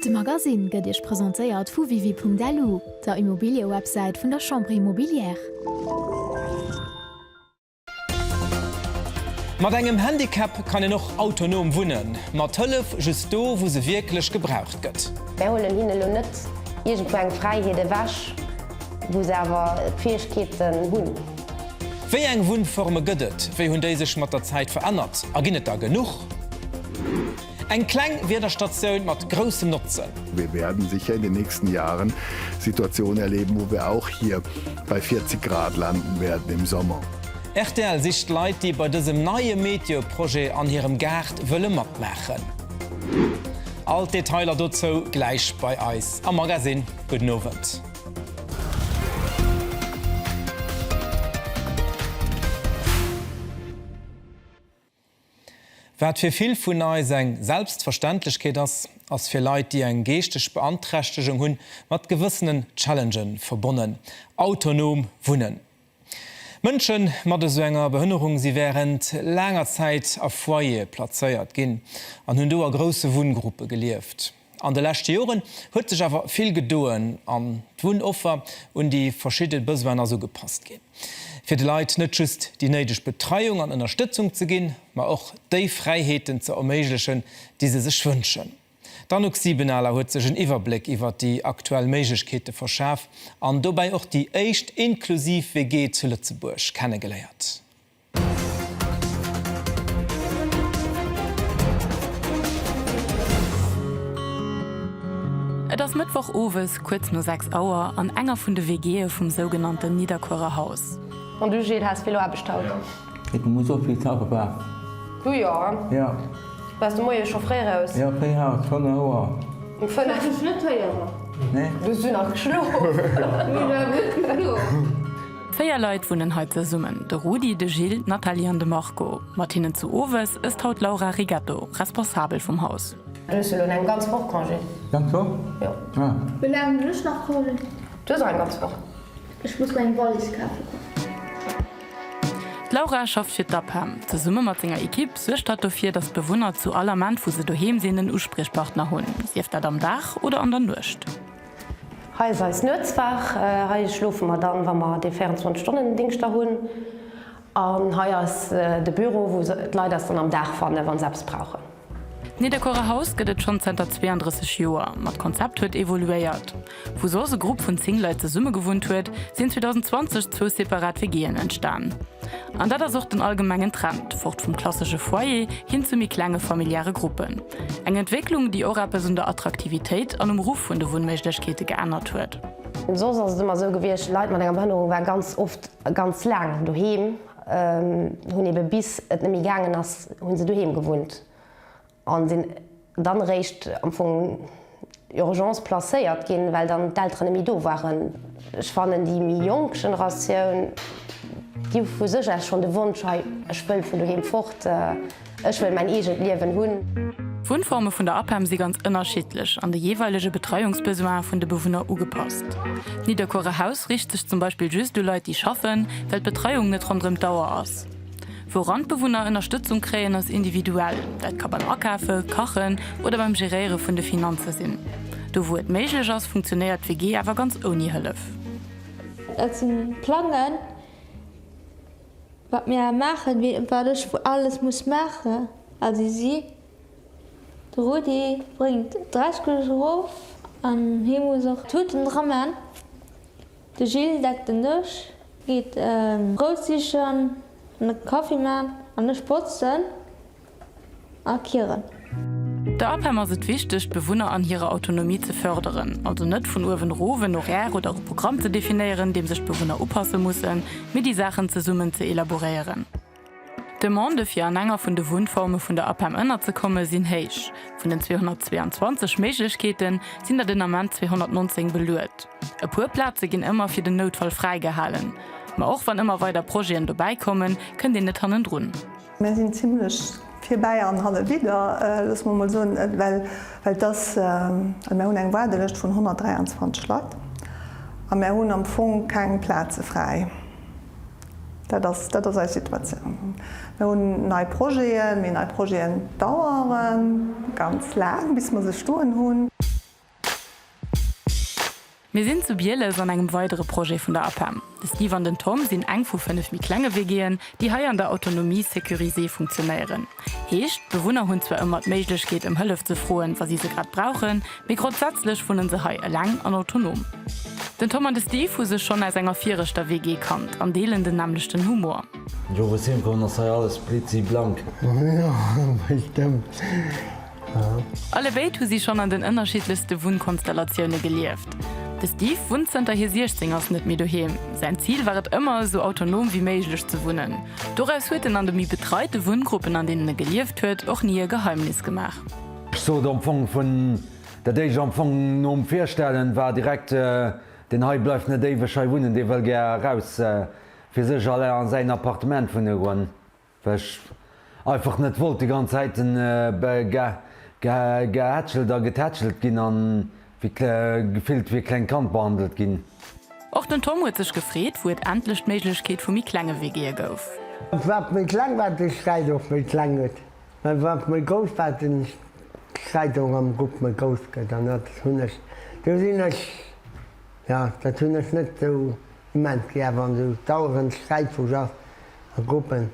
De Magasinn gëtt Iech presentéiert vu Wiwi.lu, der Immobiliëwebsäit vun der Chambre Immobilière. Mat engem Handicap kann een och autonom wunnen, mat Hëllef just do, wou se wierklech gebraucht gëtt. Mär huelen hinne lo net iergendwou eng Fräiheet ewech, wou se awer d'Fäegkeeten hunn. Wéi eng Wunnforme gëtt et, wéi hunn déi sech mat der Zäit verännert a ginn et der genuch? Eng kleng Wiederstatioun mat groussem Notzen. Wir werden sicher in den nächsten Jahren Situationen erleben, wo wir auch hier bei 40 Grad landen werden im Sommer. Rtl sicht Leit, déi bei dësem neie Meteo-Projet an hirem Gaart wëlle matmaachen. All d'Detailer dozou gläich bei eis am Magasinn. Gudden Owend. Wat fir vill vun eis eng Selbstverständlechkeet ass, ass fir Leit, déi eng geeschteg Beanträchtegung hunn, mat gewëssenen Challenge verbonnen, autonom wunnen. Mënsche mat esou enger Behënnerung si wärend laanger Zäit a Foyere plazéiert ginn an hunn do a grousse Wunngruppe gelieft. An de leschte Joren huet sech awer vill gedoen an d'Wunnoffer un déi verschidde Besoinen ass ugepasst ginn, fir de Leit net just déi néideg Betreiung an Ënnerstëtzung ze ginn, ma och déi Fräiheeten ze erméiglechen, déi se sech wënschen. D'Anouk Siebenaler huet sech en Iwwerbléck iwwert déi aktuell Méiglechkeete verschaf an dobäi och déi éischt inklusiv WG zu Lëtzebuerg kennegeléiert. Et ass Mëttwoch owes kuerz no 6 Auer an enger vun de WGe vum sougenannten Nidderkuerer Haus. Bon du Gilles, has vill Aarbecht haut. Et muss och vill Kaffe bak. Du jo, ja? Bass de Moie scho fréi raus? Jo, fréi haut, 5 Auer. Um 5? Dat huet ech net héieren. Nee? Du hues du nach geschlof? Mir war gutt geflunn. Véier Leit wunnen hei zesummen, de Rudi, de Gilles, d'Nathalie an de Marco. Mat hinnen zu Owes ësst haut d'Laura Rigetto, Responsabel vum Haus. Du hues jo lo eng ganz Woch Congé. Ganz Woch? Jo. Ah. Wéi laang hunn ech nach Congé? Du hues och eng ganz Woch. Ech muss meng Wallis kafe goen. D'Laura schafft fir d'APEM. Zesumme mat senger Ekipp suergt hatt dofir, dass d'Bewunner zu all Ament, wou se doheem sinn, en Uspriechpartner hunn, sief dat am Dag oder an der Nuecht. Hei ass eis Nuetswaach. Hei schlofe mer dann, wa mer dee 24 Stonnen Dingscht da hunn. An hei ass de Büro, wou d'Leit eis dann am Dag fannen, wa se eppes brauchen. D'Nidderkuerer Haus gëtt et schonn zënter 32 Joer, ma d'Konzept huet evoluéiert. Wou soss e Grupp vun 10 Leit zesummegewunnt huet, sinn 2020 zwou separat WG'en entstan. An dat ass och den allgemengen Trend, fort vum klassesche Foyer hin zu méi klenge familiäre Gruppen. Eng Entwécklung, déi och eppes un der Attraktivitéit an um Ruff vun de Wunnméiglechkeete geännert huet. Soss ass et ëmmer esou gewiescht, Leit mat enger Behënnerung waren ganz oft ganz laang doheem, hunn ebe bis et net méi gaangen ass, hu se doheem gewunnt a sinn dann eréischt am Fong, Urgence placéiert ginn, well dann d'Elteren net méi do waren. Ech fannen déi méi jonk Generatioun, déi hu vu sech aus schonn de Wonsch, hei ech wëll vun doheem fort, ech wëll mäin eegent Liewen hunn. D'Wunnforme vun der APEM si ganz ënnerschiddlech an de jeeweilege Betreiungsbesoinen vun de Bewunner ugepasst. D'Nidderkuerer Haus riicht sech zum Beispill just u Leit, déi schaffen, well d'Betreiung net ronderëm d'Auer ass. Wou Randbewunner Ënnerstëtzung kréien ass individuell, dat ka beim Akafe, Kachen oder beim Geréiere vun de Finanze sinn. Do wou et méiglech ass, funktionéiert d'WG awer ganz ouni Hëllef. Dat si Plangen, wat mir maachen, wéi et wat ech alles muss maachen a wéi si. De Rudi bréngt d'Dreiskeleg erof an hie muss och d'Tuten dra man. De Gilles deckt den Dësch, geet Brout sichen an de Kaffi man an ech botzen a kieren. Der APEM ass et wichteg, d'Bewunner an hirer Autonomie ze fërderen, also net vun uewen erof en Horaire oder e Programm ze definéieren, deem sech d'Bewunner upasse mussen, mee déi Saachen zesummen ze elaboréieren. D'Demande fir an enger vun de Wunnforme vun der APEM ënnerzekomme sinn héich. Vun den 222 Méiglechkeete sinn der den Ament 219 beluet. E puer Plaze ginn ëmmer fir den Noutfall fräigehalen. Ma och wann ëmmer weider Projeten dobäi kommen, kënnt een net hannendrun. Mir sinn zimlech virbäi an halle vidder, loosse mer mol soen, well et ass, mir hunn eng Waardelëscht vun 123 Leit a mir hunn am Fong keng Plaze fräi. Dat ass, dat ass eis Situatioun. Mir hunn nei Projeten, mee nei Projeten dauere ganz laang, bis mer se stoen hunn. Mir sinn zu Bieles an engem weidere Projet vun der APEM. De Steve an den Tom sinn eng vu fënnef méi klenge WGen, déi hei an der Autonomie sécurisée funktionéieren. Heescht, d'Bewunner hunn zwar ëmmer d'Méiglechkeet ëm Hëllef ze froen, wa si se grad brauchen, mee grondsätzlech wunnen se hei eleng an autonom. Den Tom an de Steve hu sech schonn aus enger viregter WG kannt an deelen den nämmlechten Humor. Jo, wou ech heemkomm ass hei alles blitziblank. Jo, bestëmmt. Alle béid hu si schonn an den ënnerschiddlechste Wunnkonstellatioune gelieft. De Steve wunnt zënter hie 16 ass net méi doheem. Säin Zil war et ëmmer, esou autonom wéi méiglech ze wunnen. Doraus huet en an de méi betreite Wunngruppen, an deenen e gelieft huet, och ni e Geheimnis gemaach. Ech sot am Fong vun dat éischt, am Fong nom Virstellen, war direkt, Deen hei bleift net éiweg hei wunnen, dee wëll gär eraus, fir sech allein a säin Appartement wunne goen. Well ech einfach net wollt déi ganz Zäit gehätschelt a getätschelt ginn a gefillt wéi e klengt Kand behandelt ginn. Och den Tom huet sech gefreet, wou et endlech d'Méiglechkeet vu méi klenge WGe gouf. Wat méi kleng war, de Sträit och méi kleng gëtt, mä wat méi grouss war, de Sträit och am Grupp méi grouss gëtt. An dat hunn ech, do sinn ech, jo, dat hunn ech net esou Moment gi awer an sou dauerend Sträit vu Jaf a Gruppen.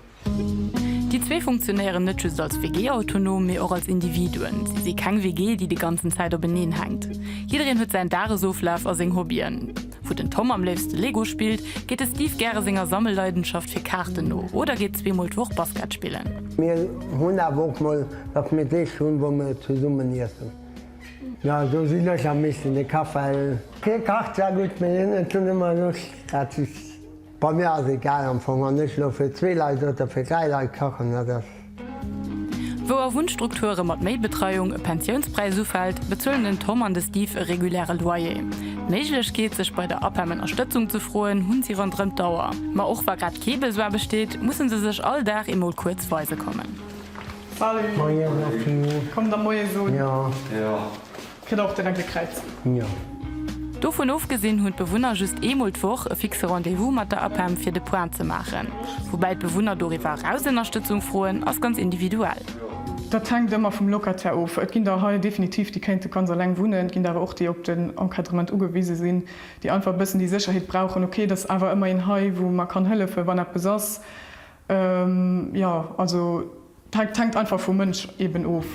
Déi zwee funktionéieren net just als WG autonom, mee och als Individuen. Si si keng WG, déi de ganzen Zäit openeen hänkt. Jiddereen huet säin Dagesoflaf a seng Hobbyen. Wou den Tom am léifste Lego spillt, geet de Steve gäre senger Sammelleidenschaft fir Kaarten no oder geet zweemol d'Woch Basket spillen. Mir hunn awer och mol, datt mir Deeg hunn, wou mir zesummen iessen. Jo, do sinn ech am meeschten de Kafell. Hie kacht zwar gutt, mee hien huet dunn ëmmer Loscht, dat ass bei mir ass egal am Fong. Wann ech elo fir zwee Leit oder fir dräi Leit kachen, dat ass. Wou a Wunnstrukture mat méi Betreiung e Pensiounspräis ufält, bezuelen den Tom an de Steve e reguläre Loyer. D'Méiglechkeet, sech bei der APEM Ënnerstëtzung ze froen, hunn si ronderëm d'Auer. Ma och wa grad kee Besoin besteet, musse se sech all Dag eemol kuerz weise kommen. Salut. Moien Natalie. Kommt da moies un. Jo. Kritt der och direkt e Kräiz. Jo. Dovun ofgesinn hunn d'Bewunner just eemol d'Woch e fixe Rendez-vous mat der APEM fir de Point ze maachen. Woubäi d'Bewunner doriwwer eraus Ënnerstëtzung froen, ass ganz individuell. Dat hänkt ëmmer vum Locataire of. Et ginn der hei definitiv déi kéinte ganz eleng wunnen, et ginn der awer och déi op den Encadrement ugewise sinn, déi einfach e bëssen déi Sécherheet brauchen, ok et ass awer ëmmer een hei wou mer kann hëllefen, wann eppes ass. Jo, also dat hänkt einfach vum Mënsch eben of.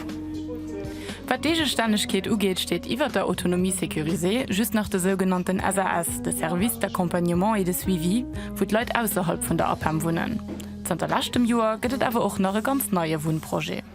Wat d'Eegestännegkeet ugeet, steet iwwert der Autonomie sécurisée just nach de sougenannten SAS, de Service d'accompagnement et de suivi, wou d'Leit ausserhalb vun der APEM wunnen. Zanter leschtem Joer gëtt et awer och nach e ganz neie Wunnprojet.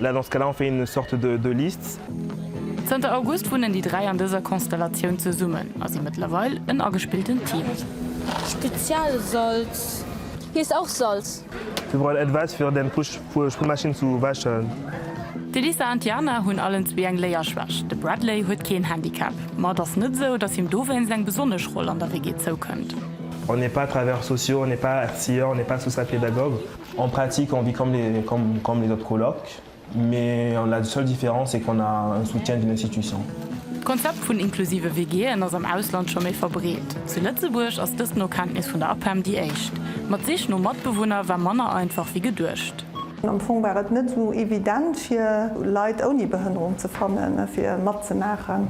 Là, dans ce cas-là, on fait une sorte de, de liste. Zënter August wunnen déi dräi an dëser Konstellatioun zesummen a si mëttlerweil en agespilltent Team. Spezialsalz heesst auch Salz. Wir brauchen etwas fir den Push Push Spülmaschine zu wäschen. D'Elisa an d'Jana hunn allen zwee eng Léierschwächt. De Bradley huet keen Handicap, ma et ass net esou, datt him dowéinst eng besonnesch Roll an der WG zoukënnt. On n'est pas travailleurs sociaux, on n'est pas Erzieher, on n'est pas Social-Pédagogue. En pratique on vit comme les comme les autres colocs mais la seule différence c'est qu'on a un soutien d'une institution. D'Konzept vun inklusive WGen ass am Ausland scho méi verbreet. Zu Lëtzebuerg ass dëst no Kenntnis vun der APEM déi éischt. Ma d'Sich no Matbewunner war manner einfach wéi geduecht. Am Fong war et net esou evident fir Leit ouni Behënnerung ze fannen, fir matzemaachen.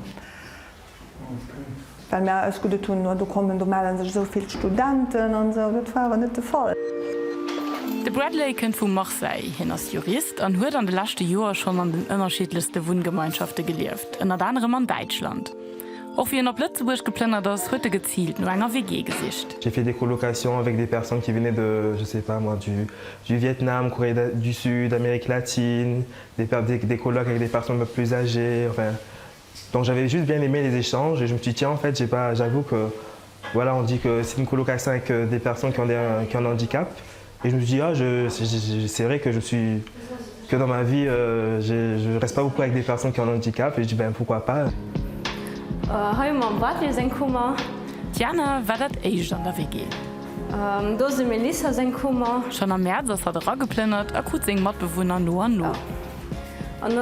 Well mir eis guddet hunn, oh do kommen, do mellen sech esou vill Studenten an esou. Dat war awer net de Fall. De Bradley kënnt vu Marseille. Hien ass Jurist an huet an de leschte Joer schonn an den ënnerschiddlechste Wunngemeinschafte gelieft, ënnert anerem an Däitschland. Och wéi en op Lëtzebuerg geplënnert ass, huet e geziilt no enger WG gesicht. J'ai fait des colocations avec des personnes qui venaient de, je sais pas moi, du du Vietnam, Corée du Sud, Amérique latine, des des colocs avec des personnes un peu plus âgées, enfin. Donc j'avais juste bien aimé les échanges et je me suis dit tiens en fait j'ai pas j'avoue que voilà on dit que c'est une colocation avec des personnes qui ont des qui ont un handicap et je me suis dit ah je c'est vrai que je suis que dans ma vie je je reste pas beaucoup avec des personnes qui ont un handicap et je dis ben pourquoi pas. Hei hu mer dem Bartely seng Kummer. D'Jana war dat éischt an der WG. Do ass dem Melissa seng Kummer. Schonn am Mäerz ass hatt erageplënnert a krut seng Matbewunner no an no. An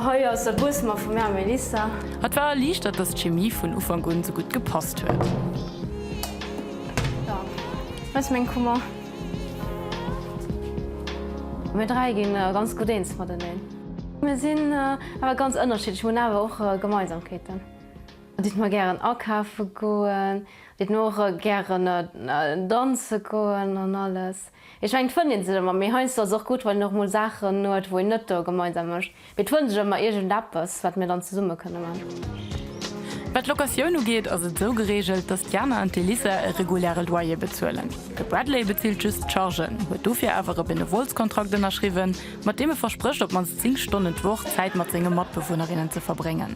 hei ass der Buessemer vum Här Melissa. Hatt war erliichtert, datt d'Chemie vun Ufank un sou gutt gepasst huet. Hei ass meng Kummer. Mir dräi ginn ganz gutt eens mateneen. Mir sinn awer ganz ënnerschiddlech, mir hunn awer och Gemeinsamkeeten. Et deet mer gären akafe goen, et deet mer och gären danze goen an alles. Ech mengen d'fënnt een sech emmer, mee heiansdo ass och gudd wann een och mol Saachen huet wou een net do gemeinsam mecht, mee d'fënnt sech emmer iergend eppes wat mir dann zesummen kënnen man. Wat d'Locatioun ugeet ass et esou gereegelt, dass d'Jana an d'Elisa e reguläre Loyer bezuelen. De Bradley bezilt just d'Chargen, huet dofir awer e Benevolskontrakt ënnerschriwwen, mat deem e versprécht op d'mannst 10 Stonnen d'Woch Zäit mat senge Matbewunnerinnen ze verbréngen.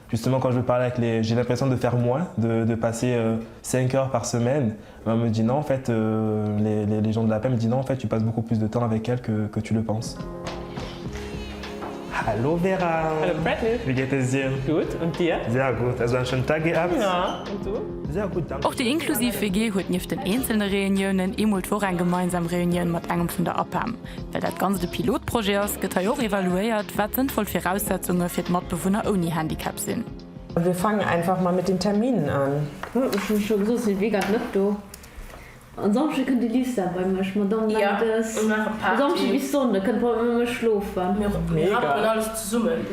Justement quand je parle avec les j'ai l'impression de faire moins de de passer 5 heures par semaine et on me dit non en fait les les les gens de la paix me dit non en fait tu passes beaucoup plus de temps avec elle que que tu le penses. Hallo Vera. Hallo Freddy. Wéi geet es dir? Gutt, und dir? Sehr gut. Also en schönen Tag gehabt? Ja, und du? Sehr gut, danke. Och déi inklusiv WG huet nieft den eenzelne Reuniounen ee Mol d'Woch eng gemeinsam Reunioun mat engem vun der APEM. Well dat Ganzt e Pilotprojet ass, gëtt hei och evaluéiert, wat sënnvoll Viraussetzunge fir d'Matbewunner ouni Handicap sinn. Wir fangen einfach mal mit den Terminen an. Huet mech jo scho gesot, sinn Weekend net do. En Samschde kënnt de Lisa bei mech, Madamm Meldes. E Samschde bis Sonnde kënnt d'Madamm bei mech schlofen. Mir rappelen alles zesummen.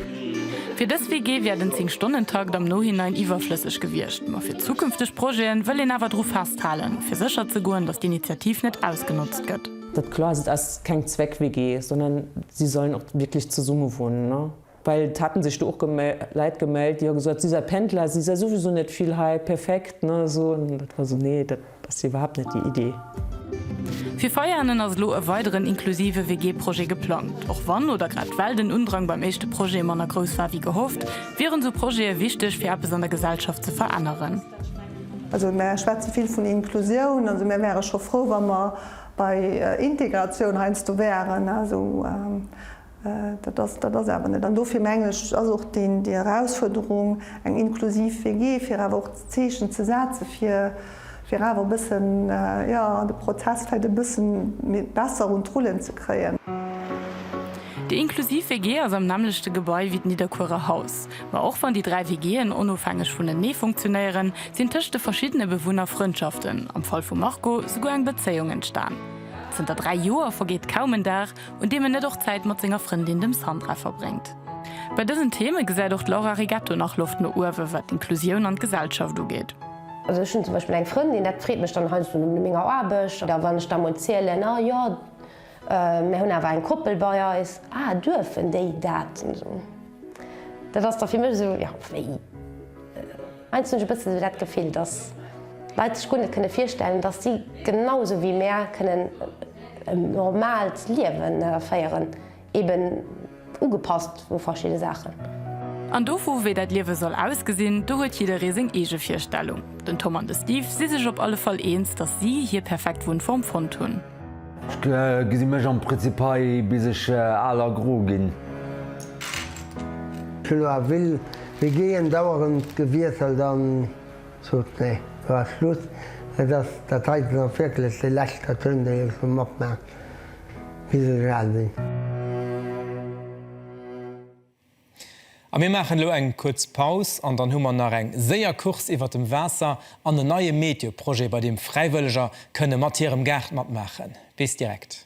Fir dës WG wär den 10 Stonnen-Takt am Nohinein iwwerflësseg gewiescht, ma fir zukünfteg Projeten wëll een awer dru festhalen, fir sécher ze goen, datt d'Initiativ net ausgenotzt gëtt. Dat kloer se ass keng Zweck-WG, sondern si sollen och wierklech zesumme wunnen, well et haten sech do och Leit gemellt, déi hu gesot, si sei Pendler, si sei souwisou net vill hei, perfekt, ne, esou. An dat war esou, nee, dat ass jo iwwerhaapt net déi Idee. Fir Veianen ass elo e weideren inklusive WG-Projet geplangt. Och wann, oder grad well, den Undrang beim éischte Projet manner grouss war wéi gehofft, wieren esou Projete wichteg fir eppes an der Gesellschaft ze veränneren. Also mär schwätze vill vun Inklusioun, also mär wäre scho frou, wa mer Bei Integratioun heiansdo wären, also dat ass dat ass awer net. An dofir mengen ech ass och déi déi Erausfuerderung, eng inklusiv WG, fir awer och Zeechen ze setze fir fir awer e bëssen, jo, de Prozess vläicht e bësse méi besser un d'Rullen ze kréien. Déi inklusiv WG ass am nämmlechte Gebai wéi d'Nidderkuerer Haus. Ma och wann déi dräi WG'en onofhängeg vunenee funktionéieren, sinn tëscht de verschiddene Bewunner Frëndschaften, am Fall vum Marco souguer eng Bezéiung entstan. Zënter dräi Joer vergeet kaum en Dag, un deem en net och Zäit mat senger Frëndin, dem Sandra, verbréngt. Bei dësen Theme gesäit och d'Laura Rigetto nach Loft no uewe wat d'Inklusioun an d'Gesellschaft ugeet. Also ech hunn zum Beispill eng Frëndin, dat freet mech dann heiansdo no ménger Aarbecht, oder wann ech da mol zielen, ah jo, Mär hunn awer eng Koppel bei eis. Ah, duerfen déi dat? Dat ass da fir mech esou, jo, wéi? Heiansdo hunn ech e bëssen esou dat Gefill, dass Leit sech guer net kënne virstellen, dass si genau esou wéi mär kënnen en normaalt Liewen féieren. Eben. Ugepasst u verschidde Saachen. An dovu wéi dat Liewe soll ausgesinn, do huet jidderee seng eege Virstellung. Den Tom an de Steve si sech op alle Fall eens, datt si hir perfekt Wunnform fonnt hunn. Ech gesi mech am Prinzip hei bis ech al a gro ginn. D'Philo a Will si géeën dauerend gewiesselt an sot, Nee, lo ass Schluss. Et ass dat heiten och wierklech de leschter Toun, dee ech sou matmaachen. Hidelgardi. A mir maachen elo eng kuerz Paus an dann hu mer nach eng séier Course iwwert dem Waasser an en neie Meteo-Projet, bei deem Fräiwëlleger kënne mat hirem Gaart matmaachen. Bis direkt.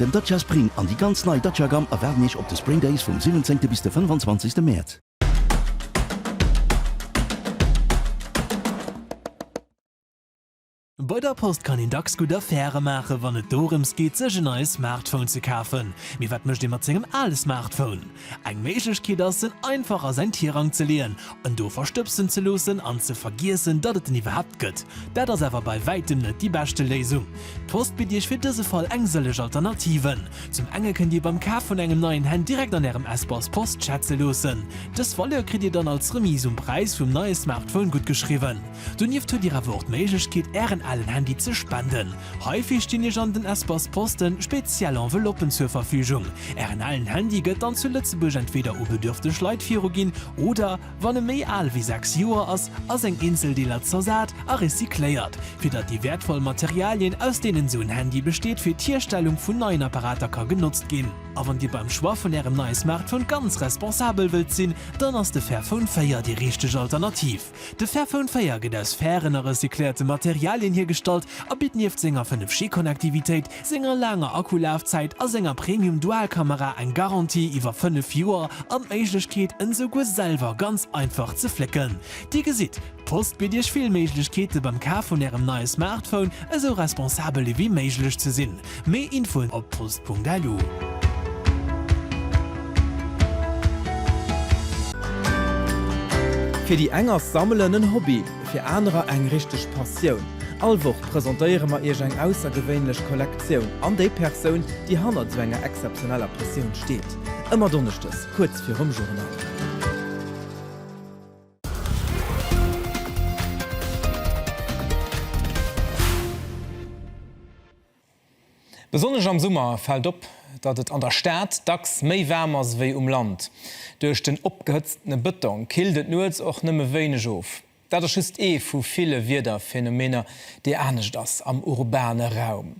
Den Dacia Spring an déi ganz nei Dacia Gamme erwaarden Iech op de Spring Days vum 17 bis de 25 Mäerz. Bei der Post kann een dacks gutt Affäre maachen, wann et dorëms geet, sech en neie Smartphone ze kafen. Mee wat mécht ee mat sengem ale Smartphone? Eng Méiglechkeet ass, en einfach a säin Tirang ze leeën, en do verstëbsen ze loossen an ze vergiessen, datt et en iwwerhaapt gëtt. Dat ass awer bei wäitem net déi beschte Léisung. D'Post bitt Iech fir dëse Fall eng sëllech Alternativen. Zum enge kënnt Dir beim Kaf vun engem neien Handy direkt an Ärem Espace Post schätze loossen. Dës Valeur kritt Dir dann als Remise um Präis vum neie Smartphone guttgeschriwwen. Donieft huet Dir awer och d'Méiglechkeet Ären alen Handy ze spenden. Heifir stinn Iech an den Espace Poste speziell Enveloppen zur Verfügung. Ären alen Handy gëtt dann zu Lëtzebuerg entweeder u bedürfteg Leit viruginn oder, wann e méi al wéi 6 Joer ass, a seng eenzel Deeler zersat a recycléiert, fir datt déi wäertvoll Materialien, aus deenen esou en Handy besteet, fir d'Hierstellung vun neien Apparater ka genotzt ginn. A wann Dir beim Choix vun Ärem neie Smartphone ganz responsabel wëllt sinn, dann ass de Fairphone 4 déi richteg Alternativ. De Fairphone 4 gëtt aus fairen a recycléierte Materialien hiergestallt a bitt nieft senger 5 G-Konnektivitéit, senger laanger Akkulafzäit a senger Premium-Dual-Kamera eng Garantie iwwer 5 Joer an d'Méiglechkeet en esouguer selwer ganz einfach ze flécken. Dir gesitt, d'Post bitt iech vill Méiglechkeete beim Kaf vun ärem neie Smartphone, esou responsabel ewéi méiglech ze sinn. Méi Infoen op post.lu. Fir déi eng ass Sammelen en Hobby, fir anerer eng richteg Passioun. All Woch presentéiere mer Iech eng aussergewéinlech Kollektioun an déi Persoun, déi hannert esou enger exzeptioneller Passioun steet. Ëmmer donneschdes kuerz virum Journal. Besonnesch am Summer fält op, datt et an der Stad dacks méi waarm ass ewéi um Land. Duerch den opgehëtztene Bëtong killt et nuets och nëmme wéineg of. Dat ass just ee vu ville Wiederphänomener, dee anescht ass am urbane Raum.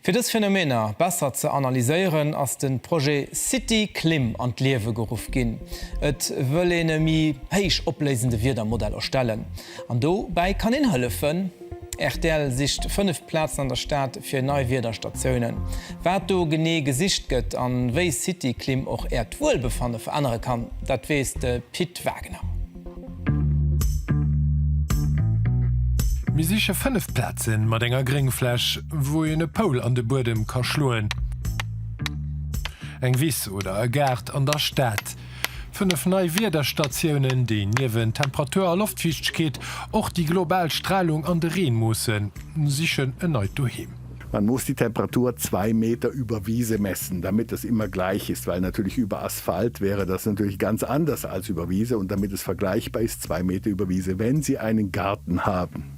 Fir dës Phänomener besser ze analyséieren, ass de Projet City-Klim an d'Liewe geruff ginn. Et wëll een e méi héich opléisende Wiedermodell erstellen. An do bäi kann een hëllefen. Rtl sicht 5 Plazen an der Stad fir nei Wiederstatiounen. Wat do genee gesicht gëtt an wéi Cityklim och äert Wuelbefanne verännere kann, dat weess de Pit Wagner. Mir siche 5 Plazen mat enger Gréngfläch, wou een e Poul an de Buedem ka schloen. Eng Wiss oder e Gaart an der Stad. Fënnef nei Wiederstatiounen, déi niewent Temperatur a Loftfiichtegkeet och déi global Stralung an de Reen moossen, sichen en neit Doheem. Man muss die Temperatur zwei Meter über Wiese messen, damit es immer gleich ist, weil natürlich über Asphalt wäre das natürlich ganz anders als über Wiese und damit es vergleichbar ist, zwei Meter über Wiese, wenn Sie einen Garten haben.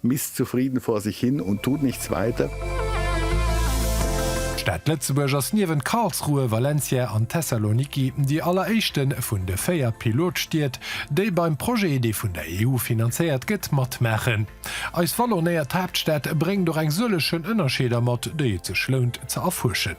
Misst zufrieden vor sich hin und tut nichts weiter. D'Stad Lëtzebuerg ass niewent Karlsruhe, Valencia an Thessaloniki déi alleréischte vun de véier Pilotstied, déi beim Projet, dee vun der EU finanzéiert gëtt, matmaachen. Eis vallonéiert Haaptstad bréngt och eng sëllechen Ënnerscheeder mat, déi et sech lount ze erfuerschen.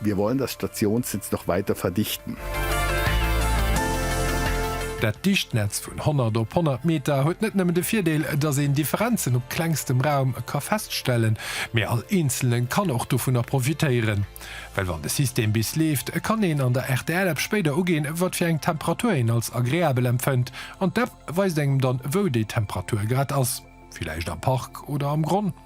Wir wollen das Stationsnetz noch weiter verdichten. Dat dicht Netz vun 100 op 100 Meter huet net nëmmen de Virdeel, dass een Differenzen op klengstem Raum ka feststellen, mee all Eenzelnen kann och dovunner profitéieren. Well wann de System bis leeft, kann een an der RTL-App spéider uginn, wat fir eng Temperatur een als agreabel empfënnt an d'App weist engem dann, wou déi Temperatur grad ass, villäicht am Park oder am Gronn.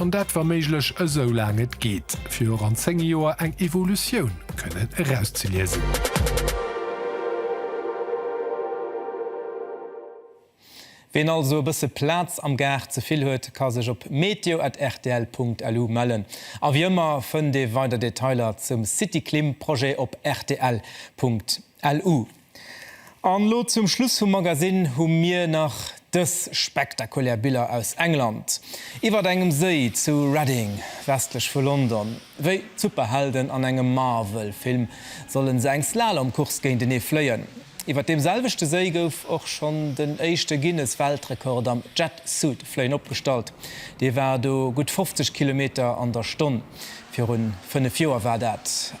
An dat wa méiglech esou laang et geet, fir och an 10 Joer eng Evolutioun kënnen erauszeliesen. Ween also e bësse Plaz am Gaart ze vill huet, ka sech op meteo.rtl.lu mellen. A wéi ëmmer fënnt ee weider Detailer zum City Klim Projet op rtl.lu. An lo zum Schluss vum Magasinn hu mir nach dës spektakulär Biller aus England, iwwert engem Séi zu Reading, westlech vu London. Wéi d'Superhelden an engem Marvel-Film solle se eng Slalom-Course géintenee fléien. Iwwert deem selwechte Séi gouf och schonn den éischte Guinness-Weltrekord am Jet-Suit-Fléien opgestallt. Dee war do gutt 50 Kilometer an der Stonn. Virun fënnef Joer war dat.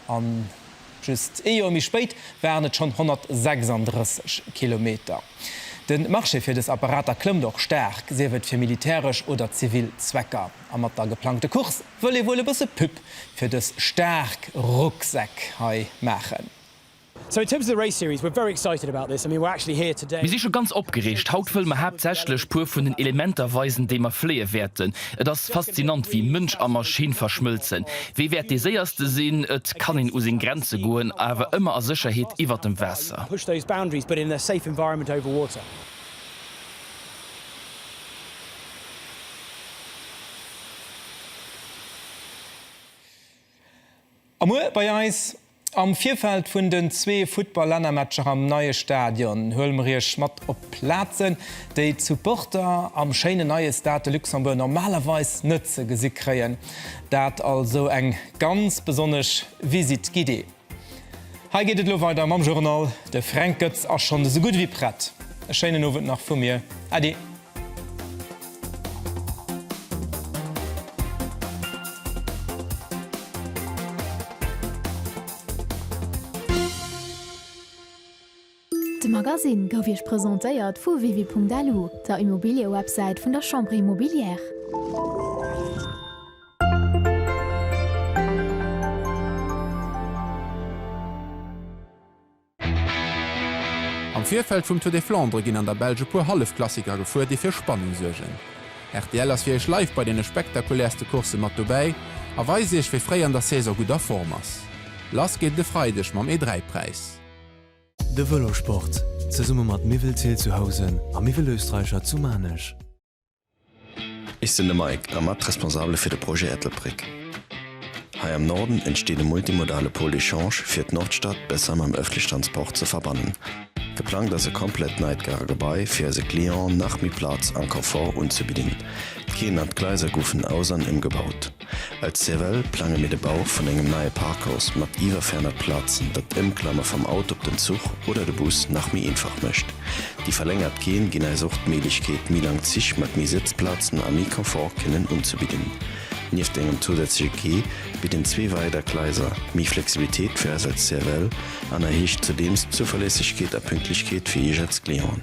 Just ee Joer méi spéit waren et schonn 136 Kilometer. De Marché fir dës Apparater klëmmt och staark, sief et fir militäresch oder zivil Zwecker. A mat der geplangte Course wëll ee wuel e bësse Pub fir dës staark Rucksäck hei maachen. Mir si scho ganz opgereegt. Haut wëlle mer haaptsächlech puer vun den Elementer weisen, déi mer fléie wäerten. Et ass faszinant, wéi Mënsch a Maschinn verschmëlzen. Wie wäert dee Séierste sinn? Et kann een u seng Grenze goen, awer ëmmer a Sécherheet iwwer dem Waasser. A muer bei eis. Am Virfeld vun den zwee Futtball-Lännermatcher am neie Stadion huele mer Iech mat op Plazen, déi d'Supporter am schéinen neie Stade de Luxembourg normalerweis net ze gesi kréien. Dat also eng ganz besonnesch Visite guidée. Hei geet et elo weider mam Journal. De Fränk Goetz ass schonn esou gutt ewéi prett. E schéinen Owend nach vu mir. Äddi. De Magasinn gouf Iech presentéiert vu Wiwi.lu, der Immobiliëwebsäit vun der Chambre Immobilière. Am Virfeld vum Tour des Flandres ginn an der Belsch e puer Hallefklassiker gefuer, déi fir Spannung suergen. Rtl ass fir Iech live bei deene spektakulärste Coursse mat dobäi a weist Iech, wee fréi an der Saison gutt a Form ass. Lass geet et e Freideg mam E3-Präis. De Vëlosport, zesumme mat Miweltil zu Housen a Miwelösterreicher zu Maarnech. Ech sinn de Mike a mat responsabele fir de Projet Ettelbréck. Hei am Norden entsteet e multimodale Pôle d'échange fir d'Nordstad besser mam ëffentleche Transport ze verbannen. Geplangt ass e komplett neit Gare Gebai fir eise Clienten nach méi Plaz an Confort unzebidden. D'Keeën an d'Gleiser goufen aus an ëmgebaut. Als CEVEL plange mir de Bau vun engem neie Parkhaus mat iwwer 400 Plazen, dat d'Ëmklamme vam Auto op den Zuch oder de Bus nach méi einfach mécht. Déi verlängert Quaien ginn äis och d'Méiglechkeet, méi lang Zich mat méi Sëtzplazen a méi Confort kënnen unzebidden. Nieft engem zousätzleche Quai bidden zwee weider Gleiser méi Flexibilitéit fir äis als CEVEL an erhéicht zudeems d'Zuverlässegkeet a Pünktlechkeet fir Iech als Clienten.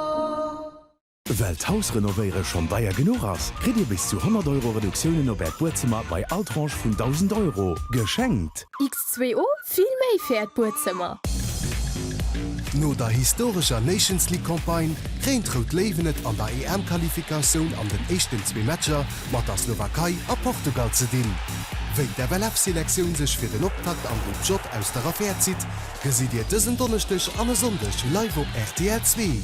Well d'Hausrenovéiere schonn deier genuch ass, kritt Dir bis zu 100 Euro Reduktiounen op Äert Buedzëmmer bei all Tranche vun 1.000 Euro geschenkt. X2O, vill méi fir Äert Buedzëmmer! No der historescher Nations League Campagne kréien d'Rout Léiwen et an der EM-Qualifikatioun an den éischten zwee Matcher mat der Slowakei a Portugal ze dinn. Wéi d'FLF-Selektioun sech fir den Optakt am Grupp J aus der Affär zitt, Gesitt Dir dësen Donneschdeg an e Sonndeg live op rtl zwee.